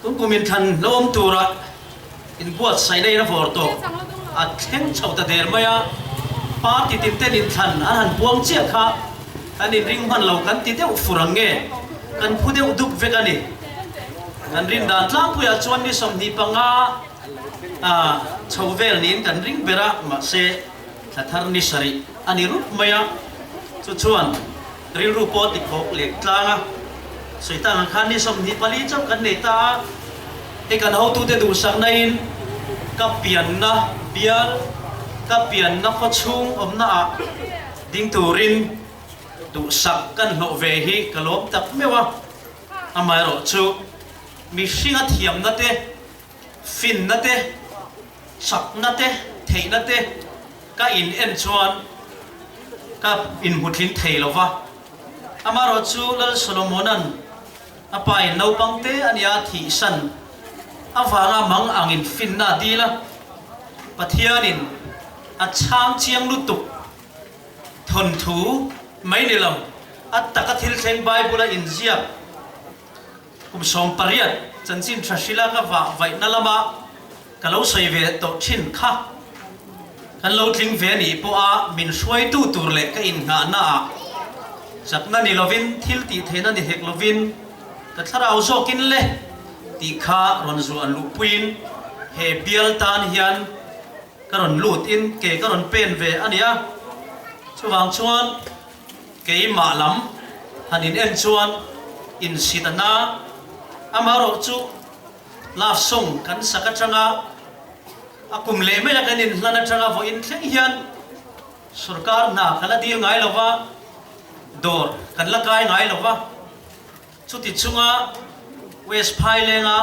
Chu kum inthlan lo awm turah inbuat saineiin a vawr tawh a thleng chho ta der mai a, party tinten inthlan an han buang chiah kha kan inring hman lo kan ti deuh fur ang nge, kan phu deuh dup vek a ni. Kan rindan tlangpuiah chuan ni sawmhnih panga chho vel niin kan ring ber a, mahse thlathar ni sarih a ni rup mai a, chu chuan. Rilru pawh ti khawk leh tlang a, Satan han khan ni sawmhnih pali chauh kan nei ta a, hei kan hotute duhsaknain ka pianna bial, ka pianna khawchhung awmna ah ding turin duhsak kan hlawh ve hi ka lawm tak meuh a, amaherawhchu mihringa thiamnate, Finna te, chakna te, theihna te ka in en chuan ka in hmutlin thei lo va. Amarawh chu Lal Solomona'n a pa in naupangte a nia thih san avanga mang angin finna a dil a. Pathianin a chhang chiang lutuk thawnthu mai ni lo. A taka thil thleng Bible-a inziak. Kum sawm pariat chanchin Thrashila ka vah vaihna lama ka lo sawi ve tawh thin kha kan lo tling ve anih pawha min hruaitu tur leh ka innghahna ah chakna ni lovin thil tih theihna ni hek lovin ka thlarau zawkin le tih kha rawn zuah luh puiin he bial tan hian ka rawn lutin ke ka rawn pen ve ania chuvang chuan Keimah lam han in en chuan in si ta na, amaherawh chu love song kan sak atanga a kum leh mai a kan in hlan atanga vawi in thleng hian sorkar hna kan la dil ngai lova, dawr kan la kai ngai lova, chuti chunga West Phailenga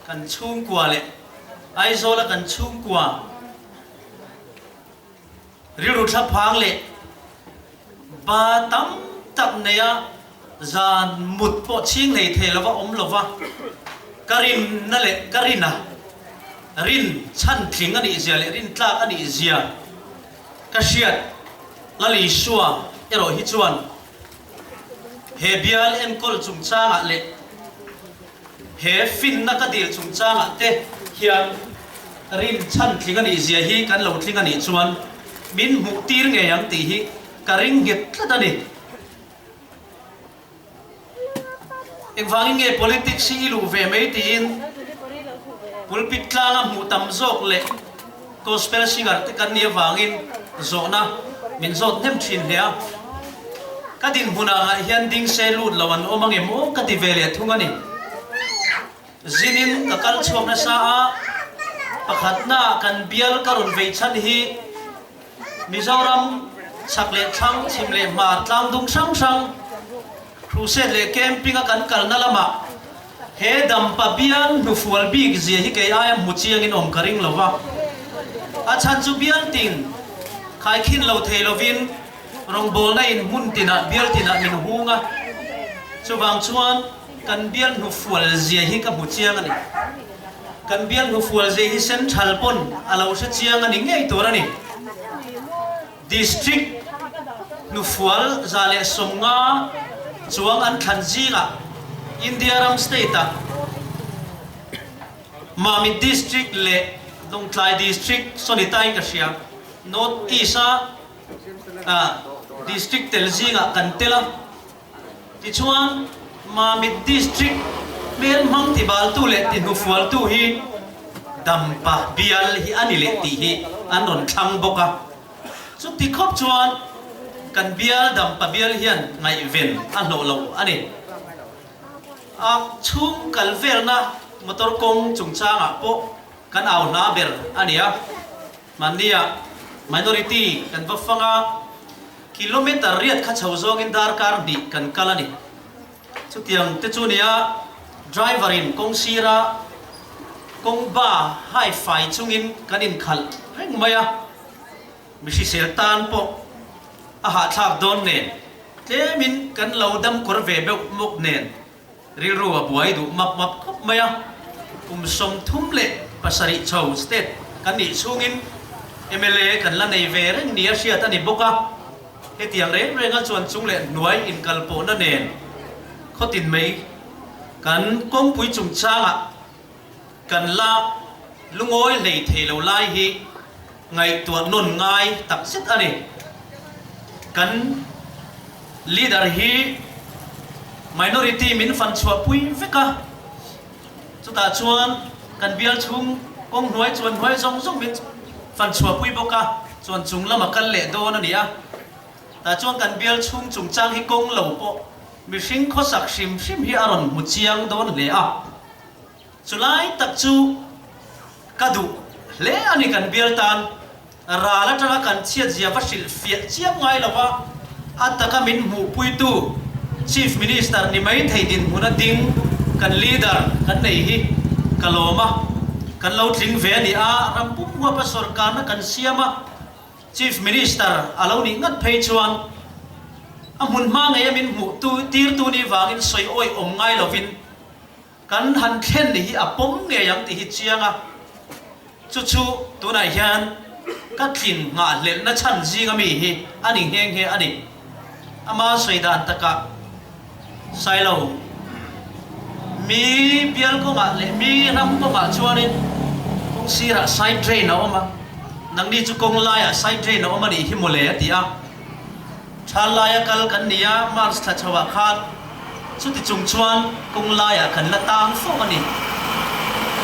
kan chhungkua leh Aizawla kan chhungkua. Rilru thla phang leh ba tam tak neia zan mut pawh chhing hlei thei lova awm lova ka rinna leh ka rina rin chhan tling a nih zia leh rin tlak a nih zia ka hriat Lalisua erawh hi chuan he bial enkawl chungchangah leh He finna ka dil chung changah te hian rin chhan tling a nih zia hi kan lo tling a nih chuan min hmuh tir ngei ang tih hi ka ring nghet tlat a ni. Engvangin nge politics hi i luh ve mai tiin pulpit tlanga hmuh tam zawk leh Gospel singer te kan nih avangin zawhna min zawt hnem thin hle a. Ka dinhmun ah ngah hian ding se lut lo an awm angem aw ka ti ve leh thung a ni. Zinin ka kal chhuak nasa a, pakhat na kan bial ka rawn vei chhan hi Mizoram chhak leh thlang, chhim leh hma, tlang dum hrang hrang, Crusade leh camping a kan kalna lamah he dam pabial hnufual bik zia hi kei aia hmu chiangin awm ka ring lo va. A chhan chu bialtin khai khin lo thei lovin rawngbawlna in hmun tinah bialtinah min hung a, chuvang chuan kan bial hnufual zia hi ka hmu chiang a ni. Kan bial hnufual zia hi Central pawn a lo hre chiang a ni ngei tur a ni. District hnufual za leh sawm nga chuang an thlan zingah India ram state ah Mamit District leh Hnawngtlai District sonitain ka hria. North East a District tel zingah kan tel a. Tichuan, Mamit District hmel hmang tibaltu leh tihnufualtu hi dam pah bial hi a ni leh tih hi an rawn thlang bawk a. Chuti khawp chuan kan bial dam pah bial hian ngaihven a hlawh lo a ni. A chhung kal velna motor kawng chungchangah pawh kan au hla ber a ni a. Mahnia minority kan va fang a, kilometre riat kha chho zawngin darkar hnih kan kal a ni. Chutiang te chu nia, driver in kawng sira, kawng ba hai fai chungin kan inkhalh reng mai a. Mi hrisel tan pawh a hahthlak dawn nen, tlemin kan lo dam kawr ve beuh mawk nen Rilru a buai duh map map khawp mai a, kum sawmthum leh pasarih chho state kan nih chhungin mla kan la nei ve reng nia hriat a ni bawk a, hetiang reng renga chuan chung leh hnuai inkalpawhna nen khawtin mai kan kawngpui chungchangah Kan la lungawi hlei thei lo lai hi ngaihtuah nawn ngai tak zet a ni. Kan leader hi minority min fan chhuah pui vek a, chutah chuan kan bial chhung kawng hnuai chuan hnuai zawng zawng min fan chhuah pui bawk a, chuan chung lam a kal leh dawn a ni a. Tah chuan kan bial chhung chungchang hi kawng lo pawh mihring khawsak hrim hrim hi a rawn hmu chiang dawn hle a. Chulai tak chu ka duh hle a ni kan bial tan ral atanga kan chhiatziah va hrilh fiah chiam ngai lo a, a taka min hmuh puitu Chief Minister ni mai thei dinhmun a ding kan leader kan nei hi ka lawm a, kan lo tling ve a ni a, ram pum huapa sorkarna kan siam a Chief Minister a lo nih ngat phei chuan a hmun hma ngeia min hmuh tu tirtu ni vangin sawi awi awm ngai lovin, Kan han thlen ni hi a pawm ngei ang tih hi chiang a, chu chu tunah hian ka tlin nghahhlelhna chhan zing ami hi a ni nghe nghe a ni. Ama sawi dan takah sai lo, mi bial kawngah leh mi ram kawngah chuanin kawng sirah side drain a awm a, nangni chu kawng laiah side drain a awm a nih hi maw le a ti a. Thlan laia kal kan ni a, March thla chho ah khan chuti chung chuan kawng lai ah kan la tang fo a ni.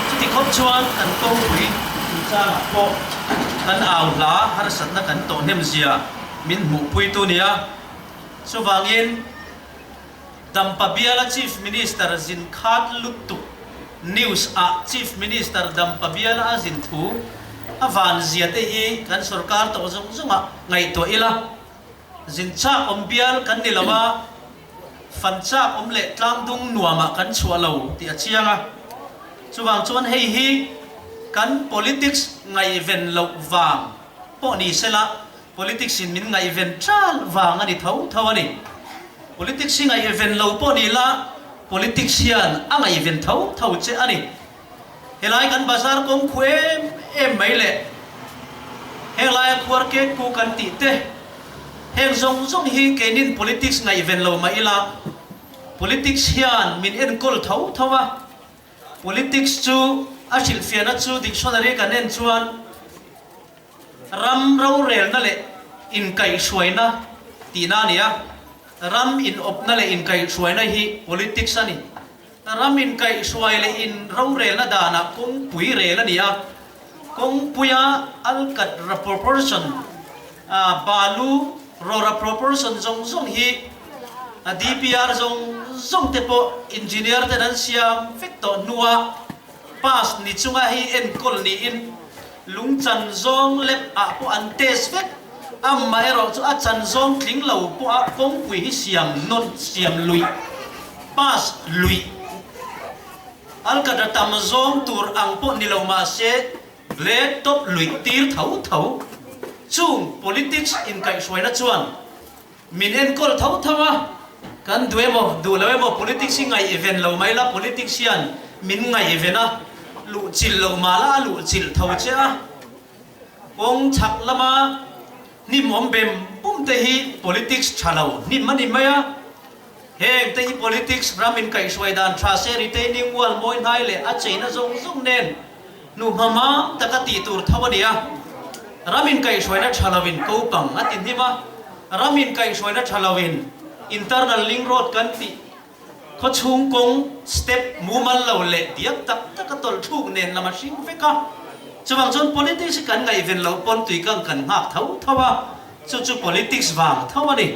Chuti khawp chuan kan kawngpui chung chang ah pawh kan au hla harsatna kan tawhnem zia min hmuh pui tu nia. Chuvang in. Dampa Biala Chief Minister zin khat luttuk News a Chief Minister Dampa Biala a zin thu a van zia te hi kan sorkar tawh zawng zawng ah ngaihtuah ila zin chak awm bial kan ni lo a, fan chak awm leh tlang dung nuam ah kan chhuah lo tih a chiang a. Chuvang chuan hei hi kan politics ngaihven loh vang pawh ni sela Politics in min ngaihven tal vang a ni tho tho a ni. Politics hi ngaihven lo pawh ni la, politics hian a ngaihven tho tho che a ni. Helai kan bazar kawng khu em em mai leh heng laia khuar kek pu kan tih te heng zawng zawng hi keinin politics ngaihven lo mah ila, politics hian min enkawl tho tho a. Politics chu a hrilhfiahna chu dictionary kan en chuan. Ram rorelna leh inkaihhruaina tihna a ni a, ram inawpna leh inkaihhruaina hi politics a ni. Ram inkaihhruai leh in rorelna danah kawngpui rel a ni a, kawngpuia alkatra proportion, balu rawra proportion zawng zawng hi DPR zawng zawng te pawh engineer ten an siam vek tawh hnuah pass ni chunga hei enkawl niin, Lung chan zawng lep ah pawh an test vek. Amah erawh chu a chan zawng tling lo pawh a kawngpui hi siam nawn, siam luih, pass luih, alkatra tam zawng tur ang pawh ni lo mah se grade top luih tir tho tho. Chung politics inkaihhruaina chuan. Min enkawl tho tho a, kan duh emaw duh loh emaw politics hi ngaih ven lo mai la, politics hian min ngaih ven a, luh chilh loh mah la a luh chilh tho che a, kawng chhak lama hnim awm bem bum te hi politics tha lo hnim a ni mai a. Heng te hi politics ram in kaih hruai dan tha se retaining wall mawi hnai leh a cheina zawng zawng nen hnuhma mam tak a tih tur tho a ni a. Ram in kaih hruai na tha lo in ko pang a ti hnim a, ram in kaih hruai na tha lo in internal ling road kan tih khaw chhung kawng step mumal lo leh biak tak tak a tawlh thuk nen lam a hring vek a. Chuvang chuan politics hi kan ngaihven lo pawn tuikang kan nghak tho tho a, chu chu politics vang tho a ni.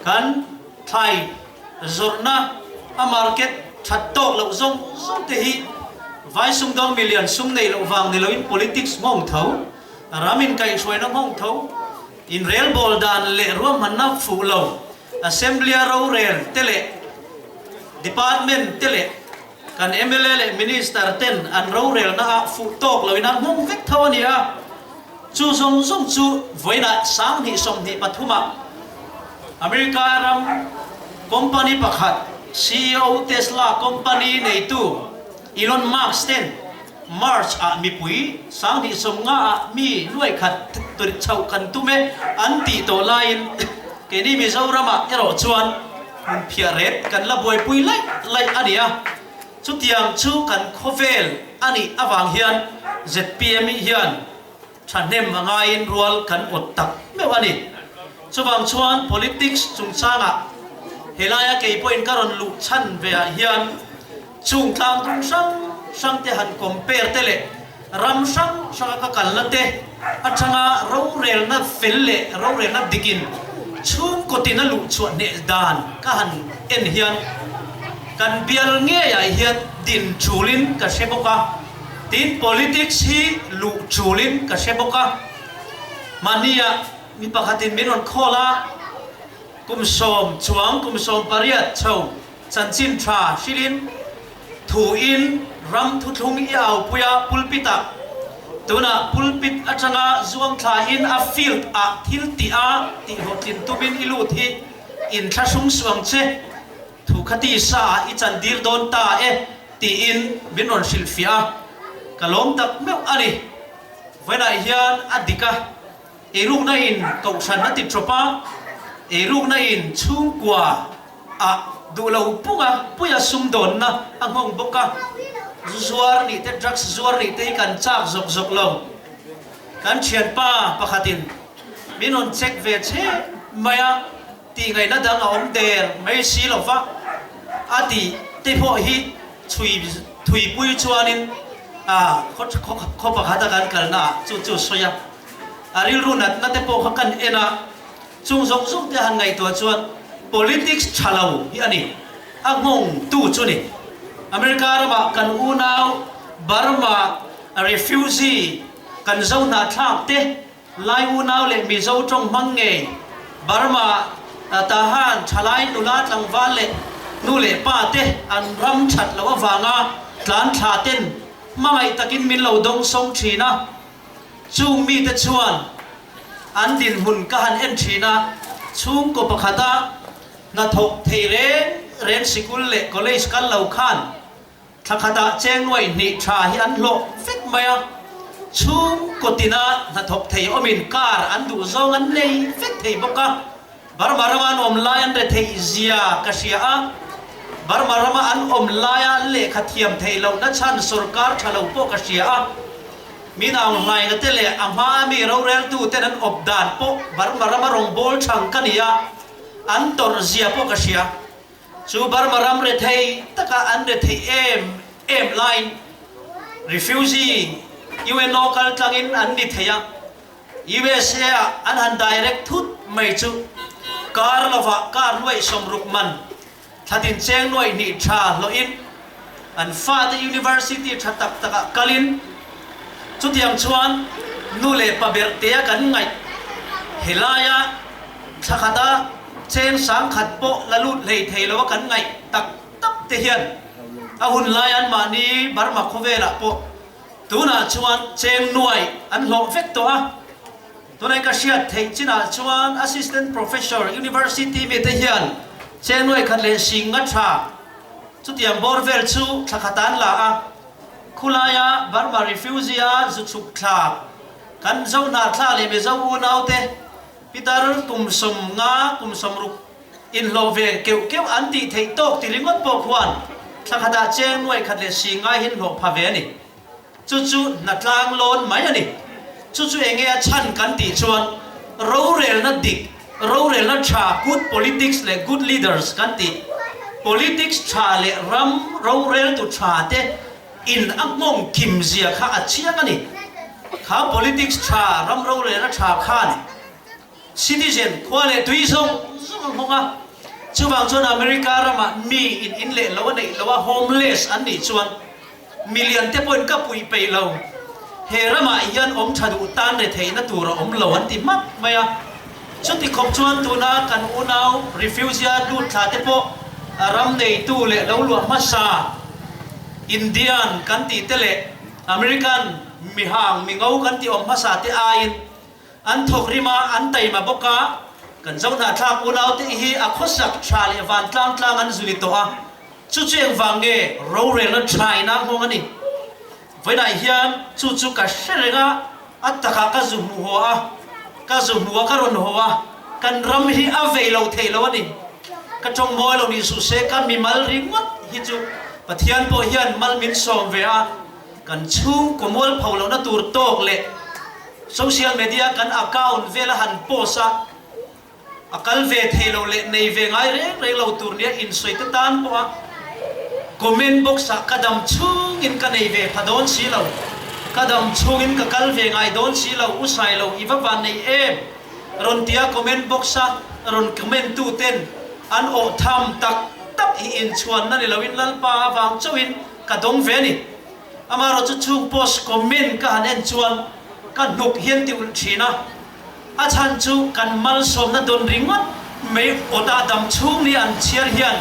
Kan thlai zawrhna a market that tawk loh zawng zawng te hi vai sumdawng million sum neih loh vang ni loin politics nghawng tho, ram inkaichhuaina nghawng tho, inrelbawl dan leh ruahmanna fuh lo, assembly-a rorel te leh department te leh Kan mla leh minister ten an rorelna ah fuh tawk loin an hmang vek tho a ni a, chu zawng zawng chu vawiina sang hnih sawmhnih pathum ah America ram company pakhat CEO Tesla company neitu Elon Musk ten March ah mipui sang hnih sawm nga ah mi nuai khat chhoh kan tum e an tih tawh laiin keini Mizoram ah erawh chuan Hmun phiah ret kan la buaipui laih laih a nia. Chutiang chu kan khawvel a nih avang hian zpmi hian thahnem a ngaiin rual kan awt tak meuh a ni. Chuvang chuan politics chungchangah he laia kei pawhin ka rawn luh chhan ve ah hian, Chung tlang tum hrang hrang te han compare te leh ram hrang hranga ka kalna te atanga rorelna fel leh rorelna dikin chhungkawtin a luh chhuah hneh dan ka han en hian kan bial ngeiah hian din chulin ka hre bawk a, tin politics hi luh chulin ka hre bawk a. Mahnia mi pakhatin min rawn call a, kum sawm chuang kum sawm pariat chho. Chanchin tha hrilhin thu in ram thuthlung i aupui a pulpit ah. Tunah pulpit atanga zuamthla in a field ah thil ti a tih hlawhtlin tum in i lut hi in thlahrum suam che. Thu kha tisa ah i chan dir dawn ta e tiin min rawn hrilhfiah a. Ka lawm tak meuh a ni. Vawiinah hian a dik a. Ei rukna in kohhranna ti tawp a, ei rukna in chhungkua a duh lo pung a, puia sumdawnna a nghawng bawk a, zu zuar nih te, drugs zuar nih te hi kan chak zawk zawk lo. Kan thianpa pakhat in min rawn check ve che mai a, tihngaihna dang a awm der mai si lo va, a tih te pawh hi chhui thuipui chuan in khaw pakhat a kan kalna ah chu chu sawi a. A rilru natna te pawh kha kan en a, chung zawng zawng te a han ngaihtuah chuan politics tha lo hi a ni. A nghawng tu chu ni, America ramah kan unau Burma refugee kan zo hnahthlak te, Lai unau leh Mizo tawng hmang ngei Burma tah han thalai nula tlangval leh nu leh pa te an ram that loh avanga tlan thlaten hmangaih takin min lo dawng sawng thin a. Chung mite chuan an dinhmun ka han en thin a, chhungkaw pakhata hna thawh thei reng reng sikul leh college kal lo khan thla khatah chengnuai hnih tha hi an hlawh vek mai a, chhungkaw tina hna thawh thei awmin car an duh zawng an nei vek thei bawk a. Burma rama an awm lai an retheih zia ka hria a, Burma rama an awm lai a an lehkha thiam theih loh na chhan sorkar tha lo pawh ka hria a, Minaung hlaina te leh a hma a mi rorel tu ten an awp dan pawh Burma rama rawngbâwl chhang ka ni a, an tawrh zia pawh ka hria. Chu Burma ram rethei taka an retheih em em laiin refugee UNO kal tlangin an ni thei a, USA-ah an han direct thut mai chu kar lovah kar nuaih sawm ruk man thla tin cheng nuaih hnih tha hlawhin an fate University tha tak takah kalin chutiang chuan nu leh pa berhtea kan ngaih helaia thla khata cheng sang khat pawh la lut hlei thei loa kan ngaih tak tak te hian a hun lai an mahni Burma khawvelah pawh Tunah chuan cheng nuai an hlawh vek tawh a, tun aika hriat theih chinah chuan Assistant Professor University mite hian cheng nuai khat leh hring nga tha chutiang bawr vel chu thlakhat an la a, khulaia Burma Refugee-a zuchhuk thla kan Zohnahtla leh Mizo unaute Pitar kum sawm nga kum sawm ruk Inhlawh ve keuh keuh an tih theih tawk ti ringawt pawh khuan thla khatah cheng nuai khat leh si ngai hi inhlawh pha ve a ni. Chu chu hna tlang lawn mai a ni. Chu chu enge a chhan kan tih chuan rorelna dik, rorelna tha, good politics leh good leaders kan tih politics tha leh ram roreltu tha te in a nghawng kim zia kha a chiang a ni. Kha politics tha, ram rorelna tha khan. Citizen, khua leh tui zawng zawng an hawng a, chuvang chuan America rama mi in in leh lo a neih loh a homeless an nih chuan milian te pawhin ka puih peih lo, he ramah hian awm tha duh tan retheihna tur a awm lo an ti hmak mai a, chuti khawp chuan tuna kan unau refugee a lut thla te pawh ram neitu leh lo luah hmasa Indian kan tih te leh American mi hang mi ngo kan tih awm hmasa te aiin An thawk rim a, an taima bawk a, kan Zohnahthlak unaute hi a khawsak tha leh vantlang tlang an zui tawh a, chu chu engvang nge rorelna tha ina nghawng a ni? Vawiinah hian chu chu ka hre reng a, a takah ka zu hmu haw a, ka zu hmu a ka rawn haw a, kan ram hi a vei lo thei lo a ni. Ka tawng mawi lo nih suh se ka mimal ringawt hi chu Pathian pawh hian mal min sawm ve a, Kan chhung kawmual pho lohna tur talk leh social media kan account vela han post a, a kal ve thei lo leh nei ve ngai reng reng lo tur nia insawi te tan pawha comment box ah ka dam chhung in ka nei ve pha dawn si lo, ka dam chhung in ka kal ve ngai dawn si lo, u sai lo i va van nei em rawn ti a comment box a rawn comment tu ten an awh tham tak tak hi inchhuan na ni lo in Lalpa a vang chauh in Ka dawng ve ni. Amarawh chu chung post comment ka han en chuan ka hnuk hian ti ulh thin a. A chhan chu kan malsawmna dawn ringawt mai aw dahdam chhung ni an chhiar hian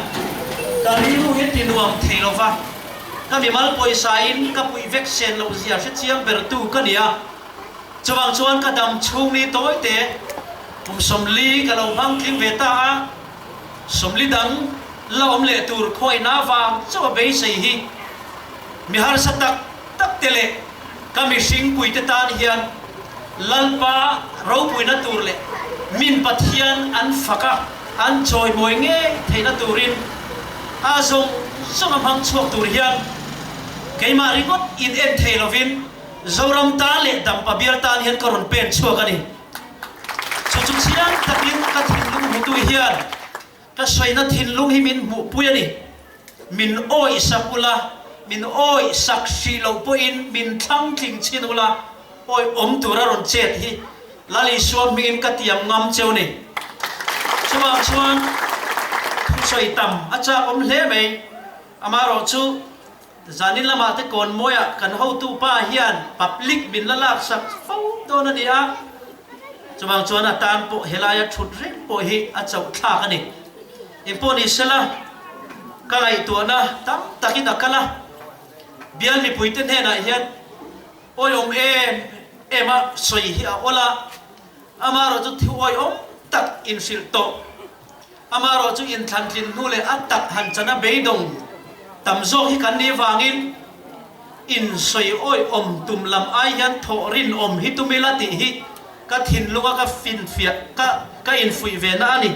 ka rilru hi ti nuam thei lo va. Ka mimal pawisa in ka puih vek sen lo zia hre chiang ber tu ka ni a. Chuvang chuan ka dam chhung ni tawite kum sawmli ka lo hmangtling ve ta a. Sawmli dang la awm leh tur khawiahna vang chauha beisei hi mi harsa tak takte leh ka mihring puite tan hian Lalpa ropuina tur leh min Pathian an faka an chawimawi ngei theihna turin a zawng zawng a hmang chhuak tur hian keimah ringawt in en thei lovin Zoram tan leh Dampa bial tan hian ka rawn pen chhuak a ni. Chu chu chiang takin ka thinlung hmutu hian ka saina thinlung hi min hmuhpui a ni. Min awih sak ula, min awih sak hrih loh pawhin min thlang tling chhin ula, awih awm tura rawn chet hi Lali Suamhingin ka tiam ngam cheu ni. Chuvang chuan thusawi tam a chakawm hle mai. Amaherawhchu. Zanin lamah te Kawnmawia kan hotu pa hian public min la lak sak fo dawn a ni a, chuvang chuan a tan pawh helai a thut reng pawh hi a chauhthlak a ni. In pawh ni sela ka ngaihtuahna tam takin a kal a, bial mipuite hnenah hian awi awm em em a sawi hi a awlh a, amarawh chu thiuawih awm tak in hrilh tawh. Amah rawh chu inthlan tlin hnu leh a tak han chana beidawng tam zawk hi kan nih vangin insawi awihawm tum lam ai hian thawh rinawm hi tum ila tih hi ka thinlunga ka finfiah ka ka infuih ve na a ni.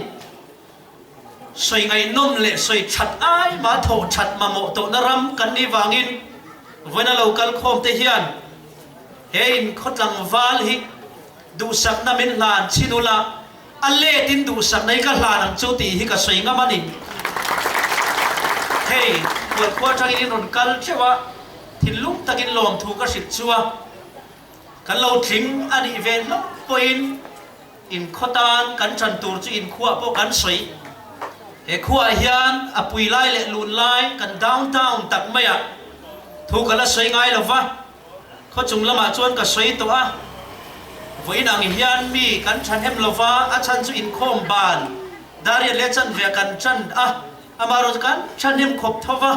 Sawi ngaihnawm leh sawi that ai mah thawh that mamawh tawhna ram kan nih vangin vawiina lo kal khawm te hian he in khawtlangval hi duhsakna min hlan chin ula a let in duhsak nei ka hlan ang chu tih hi ka sawi ngam a ni. Hei, khual khua tang in in rawn kal theuh a, thinlung tak in lawmthu ka hrilh chu a, kan lo tling a nih ve hlauh pawh in in khaw tan kan tan tur chu in khuah pawh kan sawi. He khuah ah hian a pui lai leh lun lai kan down down tak mai a thu ka la sawi ngai lo va. Khawchung lamah chuan ka sawi tawh a, vawiin ang hian mi kan thahnem lo va, a chhan chu inkhawm ban Darian leh Chanvea'n kan chan a, amah erawh chu kan thahnem khawp tho va,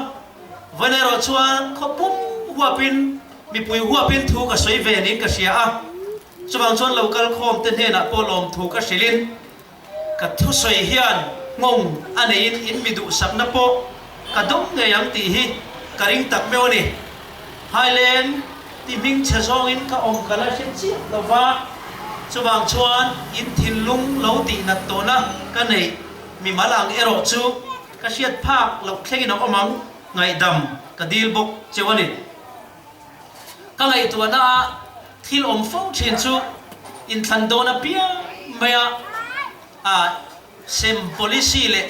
vawiin erawh chuan khaw pum huapin mipui huapin thu ka sawi ve niin ka hria a, chuvang chuan lokal khawmte hnenah pawh lawmthu ka hrilhin, Ka thusawi hian nghawng a neiin in mi duhsakna pawh ka dum ngei ang tih hi ka ring tak meuh a ni. Hailen ti hming chhe zawngin ka awm ka la hre chiah lo va, chuvang chuan in thinlung lo tihnat tawhna ka neih mi mal ang erawh chu ka hriat phak loh thlengin a awm ang, ngaihdam ka dil bawk cheu a ni. Ka ngaihtuahna ah thil awm fo thin chu inthlan dawn apiang mai a, a sem policy leh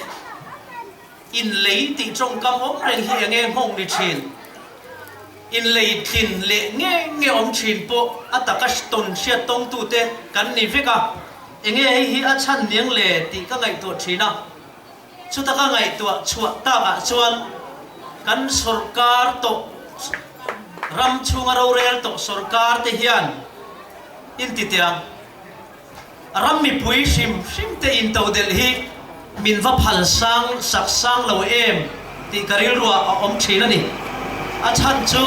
inlei tih tawngkam awm reng hi eng eng nghawng ni thin. Inlei tlin leh nge nge awm thin pawh a taka tawn hriat tawngtu te kan ni vek a, enge hei hi a chhan niang le tih ka ngaihtuah thin a. Chutaka ngaihtuah chhuah takah chuan kan sorkar tawh ram chhunga rorel tawh sorkar te hian intite a, a ram mipui hrim hrim te intodelh hi min va phal sang sak sang lo em tih ka rilruah a awm thin a ni. A chhan chu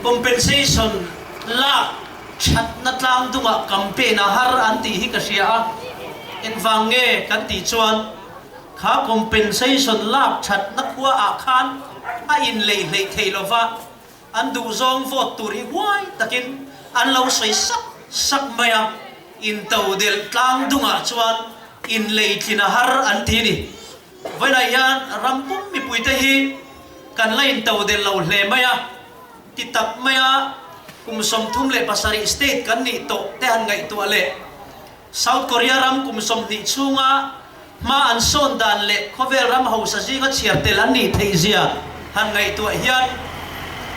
compensation lak. Thatna tlangdungah campaign a har an tih hi ka hria a, engvang nge kan tih chuan kha compensation lak thatna khua ah khan a inlei hleih thei lova an duhzawng vote tur hi huai takin an lo sawi sak sak mai a, intodelh tlangdungah chuan inlei tlin a har an ti ni. Vawilah hian rampum mipuite hi kan la intodelh lo hle mai a. Ti tak mai a, kum sawmthum leh pasarih state kan nih tawh te han ngaihtuah leh South Korea ram kum sawmhnih chhunga hma an sawn dan leh khawvel ram hausa zinga chhiar tel an nih theih zia han ngaihtuah hian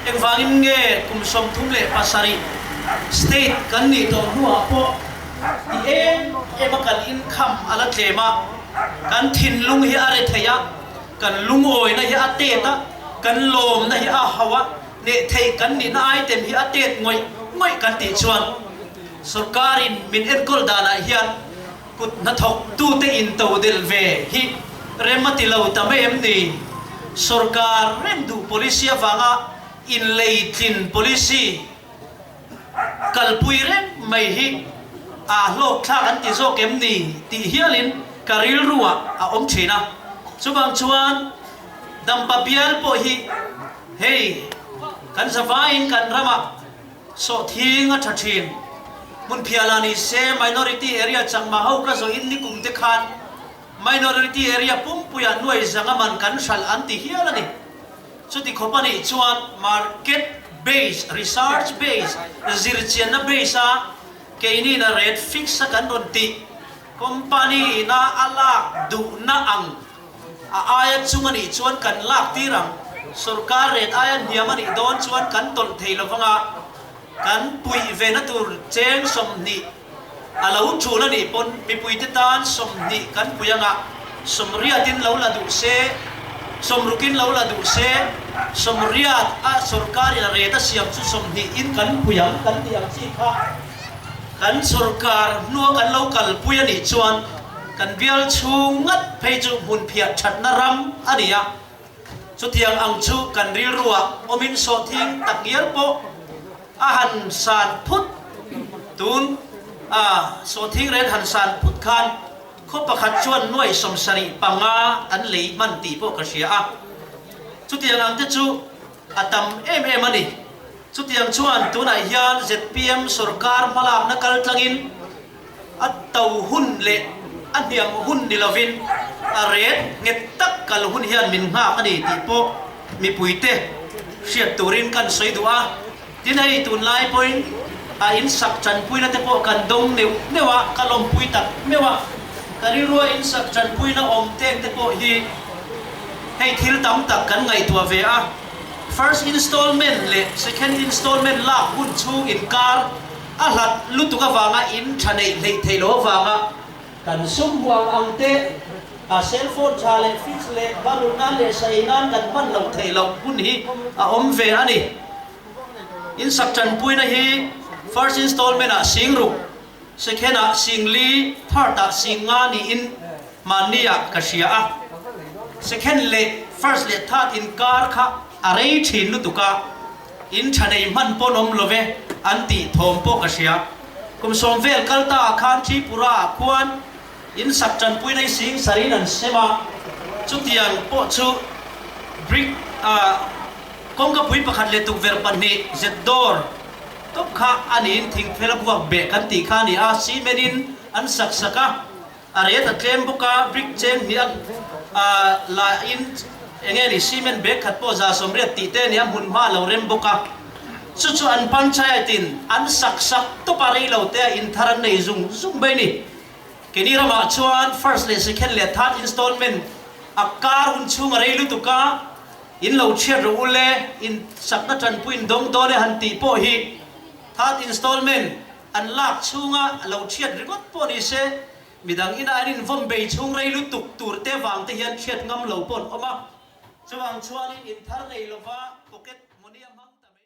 engvangin nge kum sawmthum leh pasarih state kan nih tawh hnuah pawh ti em em a kan inkham a la tlem a, kan thinlung hi a re thei a. Kan lungawina hi a tet a, kan lawmna hi a hau a, neh theih kan nihna aitem hi a tet ngawih ngawih kan tih chuan sorkarin min enkawl danah hian kut hnathawk tute in to del ve hi rem a tilo ta mai em ni? Sorkar rem duh policy avanga inleitlin policy. Kalpui reng mai hi aa hlawk thlak an ti zawk em ni? tih hialin ka rilruah a awm thin a. Chuvang chuan Dampa Bial pawh hi hei kan zavaiin kan ramah sawhthing a tha thin. Hmun phiah la ni se, Minority Area changma ho ka zawhin nikum te khan Minority Area pumpuiah nuaizanga man kan hralh an ti hial a ni. Chuti khawpa nih chuan market base, research base, zirchianna base a keinina rate fix a kan rawn tih, company ina a lak duhna ang a aia chung a nih chuan kan lak tir ang, sorkar rate aia hniam a nih dawn chuan kan tawlh thei lovang a, kan puih ve na tur cheng sawmhnih, A lo ṭhun a nih pawn mipuite tan sawmhnih kan puih ang a, sawmriatin lo la duh se, sawmrukin lo la duh se, sawmriat a sawrkarin a ret a siam chu sawmhnih in kan puih ang kan tih ang chi kha kan sawrkar hnua kan lo kalpui a nih chuan kan bial chhung ngat phei chu hmunphiah ṭhatna ram a ni a. Chutiang ang chu kan rilruah awmin sawhthing tak ngial pawh a han san phut. Tun a sawhthing rel han san phut khan khaw pakhat chuan nuai sawm sarih panga kan lei hman tih pawh ka hria a. Chutiang ang te chu a tam em em a ni. Chutiang chuan tunah hian zpm sorkar hmalakna kal tlangin, A to hun leh a hniam hun ni lovin a ret nghet tak kal hun hian min nghak a ni tih pawh mipuite hriat turin ka rawn sawi duh a. Tin, hei tunlai pawhin a insak tanpuina te pawh kan dawng neuh neuh a, ka lawmpui tak meuh a. Ka rilruah insak tanpuina awm tek te pawh hi hei thil tam tak kan ngaihtuah ve a, first installment leh second installment lak hun chhung inkar, A hlat lutuk avanga in tha neih hleih theih loh avanga kan sum huam ang teh. A cellphone tha leh fix leh varuna leh sawi nan kan hman loh theih loh hun hi a awm ve a ni. In sak tanpuina hi first installment ah sing ruk, second ah sing li, third ah sing nga niin hmanni ah ka hria a. Second leh first leh third inkar kha a rei thin lutuk a. In tha nei hman pawn awm lo ve an tih thawm pawh ka hria. Kum sawm vel kal ta ah khan Tripura ah khuan in sak tanpui nei sing sarh in an sem a, chutiang pawh chu brick ah kawngkapui pakhat leh tukverh pahnih zet dawr tawp kha a niin thingphel a buak beh kan tih kha a ni a, cement in an sak sak a. A rate a tlem bawk a, brick cheng hnih a lahin eng nge ni cement bag khat pawh za sawmriat tih te nen a hmun hma lo rem bawk a. Chu chu an panchayat in an sak sak tawp a, rei lo te a inthar an nei zung zung mai ni. Keni ram ah chuan first leh second leh third installment a kar hun chhung a rei lutuk a, in lo chhiat rawh u le, in sakna tanpuiin dawng dawn e han tih pawh hi third installment, an lak chhunga a lo thiat ringawt pawh ni se, midang ina an invawn bei chhung rei lutuk turte vangte hian thiat ngam lo paw'n awm a. Chuvang chuanin inthar nei lova pocket money a hmang ta mai.